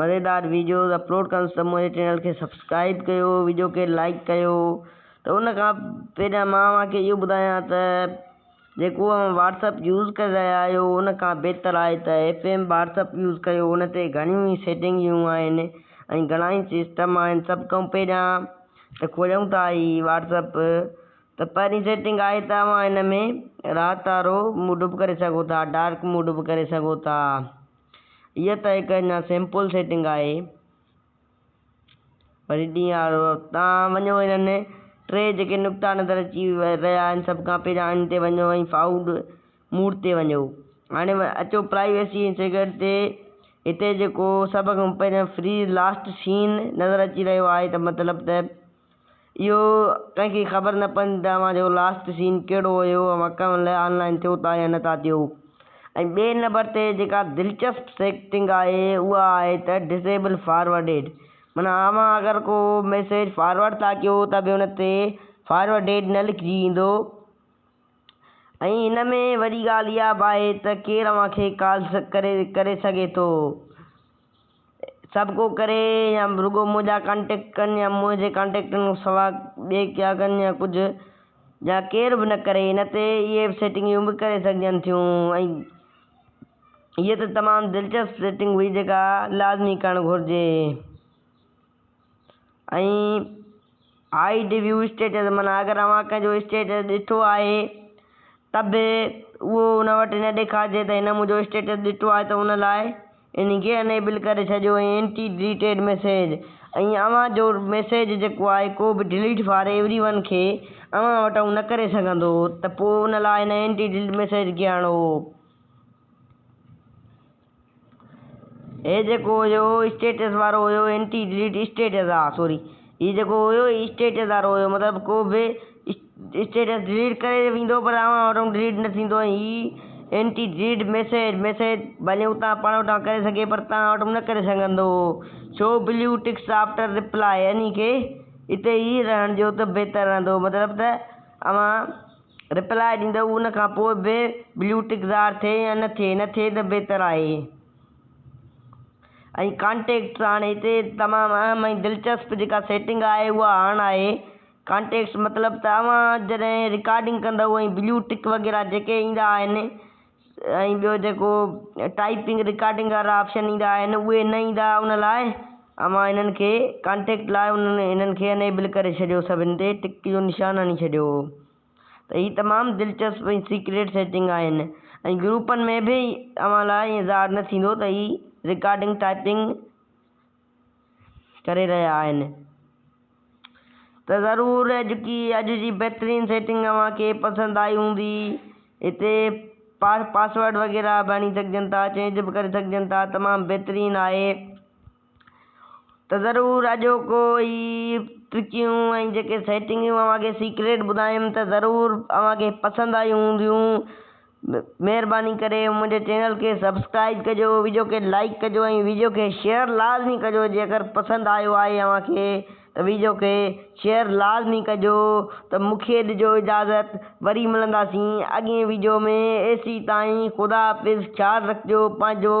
مزيدار videos upload ڪندس ته منهنجي چينل کي سبسڪرائيب ڪيو ويڊيو کي لائيڪ ڪيو ته ان کان پهريان مان اوهان کي اهو ٻڌايان ته جيڪو اوهان واٽس اپ يوز ڪري رهيا آهيو ان کان بهتر آهي ته ايف ايم واٽس اپ يوز ڪيو ان تي گهڻيون ئي سيٽنگيون آهن ۽ گهڻا ئي سسٽم آهن سڀ کان پهريان ته کوليون ٿا هي واٽس اپ ته پهرين سيٽنگ آهي ته اوهان ان ۾ رات وارو موڊ به ڪري سگهو ٿا ڊارڪ موڊ به ڪري سگهو ٿا اها ته هڪ اڃا سمپل سيٽنگ آهي پر ڊي آر او تان وڃو انهن ٽي جيڪي نقطا نظر اچي رهيا آهن سڀ کان پهريان ان تي وڃو ۽ فائوڊ موڊ تي وڃو هاڻي اچو پرائيويسي ۽ سيڪريٽ تي هتي جيڪو سڀ کان پهريان فريز لاسٽ سين نظر اچي رهيو آهي ته مطلب ته اهو ڪنهن کي خبر نه پوندي ته اوهان جو لاسٽ سين ڪهڙو هيو ۽ اوهان ڪنهن مهل آن لائن ٿيو ٿا يا نه ٿا ٿيو ۽ ٻئي نمبر تي جيڪا دلچسپ سيٽنگ آهي اها آهي ته Disable Forwarded معنيٰ اوهان اگر ڪو ميسيج فارورڊ ٿا ڪيو ته به ان تي Forwarded نه لکجي ايندو ۽ هن ۾ وڏي ڳالهه اها به آهي ته ڪير اوهان کي ڪالز ڪري ڪري سگهي ٿو. سڀ ڪو ڪري يا رڳو منهنجا ڪانٽيڪٽ ڪن يا منهنجي ڪانٽيڪٽن کان سواء ٻئي ڪيا ڪن يا ڪجهه يا ڪير به نه ڪري ان تي اهي سيٽنگيون به ڪري سگهجن ٿيون ۽ هيء ته تمام دلچسپ سيٽنگ هئي جيڪا لازمي ڪرڻ گهرجي. هائيڊ ويو اسٽيٽس معنيٰ اگر اوهان ڪنهن جو اسٽيٽس ڏٺو آهي ته به اهو ان وٽ نه ڏيکارجي ته هن منهنجو اسٽيٽس ڏٺو آهي ته ان لاء ان کي انيبل ڪري ڇڏيو ۽ اينٽي ڊليٽيڊ ميسيج ۽ اوهان جو ميسيج جيڪو آهي ڪو به ڊليٽ فار ايوري ون کي اوهان وٽ اهو نه ڪري سگهندو ته پوء ان لاء هن اينٽي ڊليٽ ميسيج کي آڻو هي جيڪو هيو اسٽيٽس وارو هيو انٽي ڊليٽ اسٽيٽس آ سوري هي جيڪو هيو اسٽيٽس وارو هيو مطلب ڪو به اسٽيٽس ڊليٽ ڪري ويندو پر اوهان وٽ ڊليٽ نه ٿيندو ۽ هي انٽي ڊليٽ ميسيج ميسيج ڀلي هو تان پاڻ وٽان ڪري سگهي پر تان وٽ نه ڪري سگهندو هو show blue ticks after reply يعني ڪي اتي ئي رهڻ ڏيو ته بهتر رهندو مطلب ته اوهان ريپلاء ڏيندو ان کان پوء به بليو ٽڪ ظاهر ٿئي يا نه ٿئي نه ٿئي ته بهتر آهي ۽ ڪانٽيڪٽس هاڻي هتي تمام اهم ۽ دلچسپ جيڪا سيٽنگ آهي اها آن آهي ڪانٽيڪٽس مطلب ته اوهان جڏهن رڪارڊنگ ڪندو ۽ بليو ٽڪ وغيره جيڪي ايندا آهن ۽ ٻيو جيڪو ٽائيپنگ رڪارڊنگ وارا آپشن ايندا آهن اهي نه ايندا ان لاء اوهان انهن کي ڪانٽيڪٽ لاء انهن کي انيبل ڪري ڇڏيو سڀن تي ٽڪ جو نشان هڻي ڇڏيو ته هي تمام دلچسپ ۽ سيڪريٽ سيٽنگ آهن ۽ گروپن ۾ به اوهان لاء ايئن ظاهر نه ٿيندو ته هي رڪارڊنگ ٽائيپنگ ڪري رهيا آهن ته ضرور اڄڪي اڄ جي بهترين سيٽنگ اوهان کي پسند آئي هوندي هتي پاسورڊ وغيره به هڻي سگهجن ٿا چينج به ڪري سگهجن ٿا تمام بهترين آهي ته ضرور اڄوڪو هي ٽرڪيون ۽ جيڪي سيٽنگيون اوهان کي سيڪريٽ ٻڌايم ته ضرور اوهان کي پسند آيون هونديون مھرباني ڪري منھنجي چينل کي سبسڪرائيب ڪجو ويڊيو کي لائيڪ ڪجو ۽ ويڊيو کي شيئر لازمي ڪجو جيڪر پسند آيو آھي اوھان کي ته ويڊيو کي شيئر لازمي ڪجو ته مونکي ڏجو اجازت وري ملنداسين اڳئين ويڊيو ۾ ايسي تائين خدا حافظ خيال رکجو پنھنجو.